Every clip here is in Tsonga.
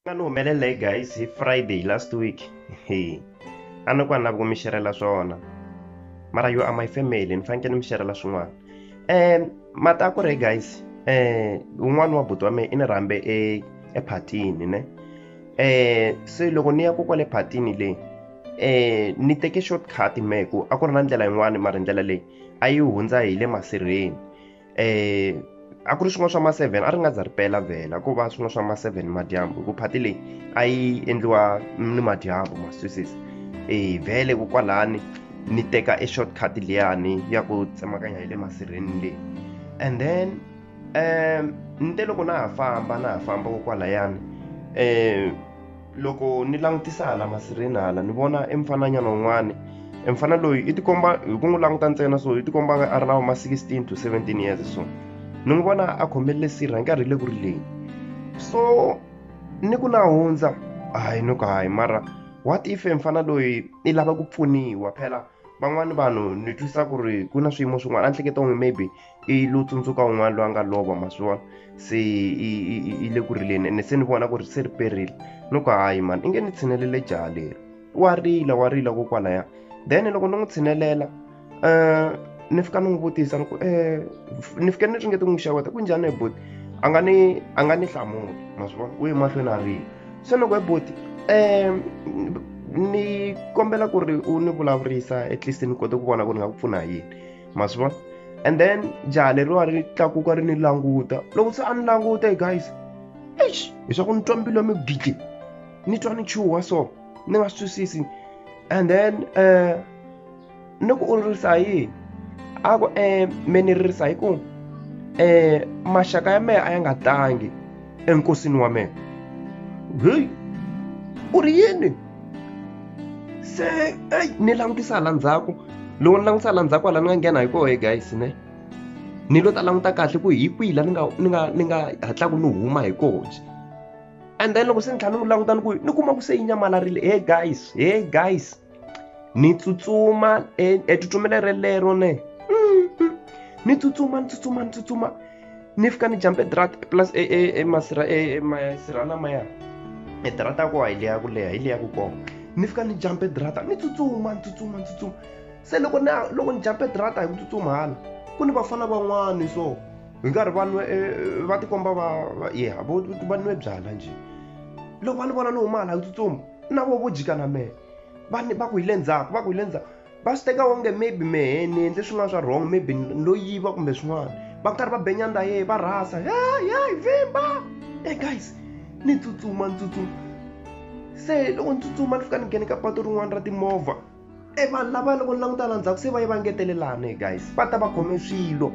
nga ni humelela hi guys hi friday last week he a ni ku a ni lavi ku mi xerhela swona mara yo a my family ni fanekele ni mi xerhela swin'wana um mati a ku ri guys um un'wana wa buti wa mehe i ni rhambe e ephatini ne um se loko ni ya ko kwale phatini leyi um ni teke short cut mehe ku a ku ri na ndlela yin'wani mara ndlela leyi a yi hundza hi le masirheni eh a ku ri swin'wana swa ma 7 a ri nga za ri pela vhela ku va swin'wana swa ma 7 madyambu ku phati leyi a yi endliwa ni madyambu ma swisis eh vhele ku kwalani ni teka e shortcut liyani ya ku tsemakanya hi le masirheni leyi and then um ni te loko na ha famba na ha famba ko kwalayani um loko ni langutisa hala masirheni hala ni vona e mfananyana wun'wani e mfana loyi i tikomba hi ku n'wi languta ntsena so i tikomba nga a ri na ma 16 to 17 years so ni n'wi vona a khomelele sirha nkarhi le ku ri leyi so ni ku na hundza hayi ni ku hayi mara what if e mfana loyi i lava ku pfuniwa phela van'wani vanhu ni twisa ku ri ku na swiyimo swin'wana a ni hleketa onge maybe i lo tsundzuka un'wana loyi a nga lova ma swi vona se i le ku rileni ene se ni vona ku ri se ri perile ni ku hayi mani i nge ni tshinelele jaha leri wa rila wa rila ko kwalaya then loko ni n'wi tshinelela um ni fika ni n'wi vutisa ni ku um ni fike ni ringete n'wi xeweta ku njhani hi boti a nga ni a nga ni hlamuli ma swi vona u ye mahlweni a rila se ni ku hi boti um ni kombela ku ri u ni vulavurisa at least ni kote ku vona ku ni nga ku pfuna hi yini ma swi vona and then jaha leriwa ri tlakuka ri ni languta loko se a ni languta e guys eish leswaku ni twa mbilu ya migidli ni twa ni chuha so ni nga swi twisisi and then um ni ku u ririsa hi yini a ku um me ni ririsa hi ku um maxaka ya mehe a ya nga tangi enkosini wa mehe heyi u ri yini se eyi ni langutisa hala ndzhaku loko ni langutisa hala ndzhaku hala ni nga nghena hi kohe guys ne ni lo ta languta kahle ku hi kwihi la ni nga ni nga ni nga hatlaku ni huma hi kona and then loko se ni tlhela ni n'wi languta ni ku ni kuma ku se yi nyamalarile he guys he guys ni tsutsuma etsutsumele relero ne ni tsutsuma ni tsutsuma ni tsutsuma ni fika ni jambe drat plus e, e, e masira e, e masira lamaya e drata ko hi leya ku leha hi leya ku koma ni fika ni jambe drata ni tsutsuma ni tsutsuma ni tsutsuma se loko ni loko ni jambe drata hi ku tsutsuma hala ku ni vafana van'wani so hi nkarhi va nwe e, va tikomba va ye va nwe byala njhe loko va ni vona ni huma hala hi ku tsutsuma na vo vo jika na mehe va va ku hi le ndzhaku va ku hi le ndzhaku va swi teka onge maybe mehe ni endle swin'wana swa wrong maybe lo yiva kumbe swin'wana va karhi va benyanda ye va rhasa yayi vimba e guys ni tsutsuma ni tsutsuma se loko ni tsutsuma ni fika ni nghene ka patu rin'wana ra timovha e vanhu lava loko ni languta la ndzhaku se va ye va ngetelelana e guys va ta va khome swilo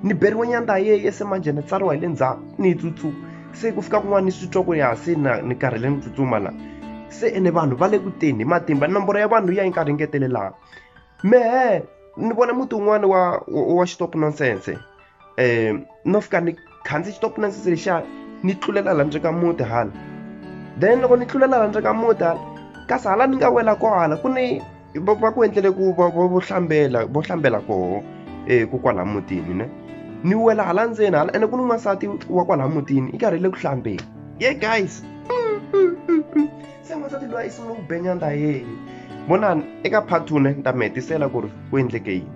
ni beriwe nyandza yeye se manjhe ni tsariwa hi le ndzhaku ni yi tsutsuma se ku fika kun'wana ni swi twa ku ya se na ni karhele ni tsutsuma la se ene vanhu va le ku teni hi matimba nomboro ya vanhu ya yi karhi ngetelelaka mehe ni vona muti wun'wana wa wa xitop nonsense um no fika ni khandzi xitop nonsense lexiya ni tlulela la ndzeni ka muti hala then loko ni tlulela la ndzeni ka muti hala kasi hala ni nga wela ko hala ku ni va va ku endlele ku va va vo hlambela vo hlambela koho eh ku kwala mutini ne ni wela hala ndzeni hala ene ku ni n'wansati wa kwala mutini i karhele ku hlambeni ye guys se n'wansati loyi i sungule ku benyanda yeye vonani eka part two ne ni ta mi hetisela ku ri ku endleke yini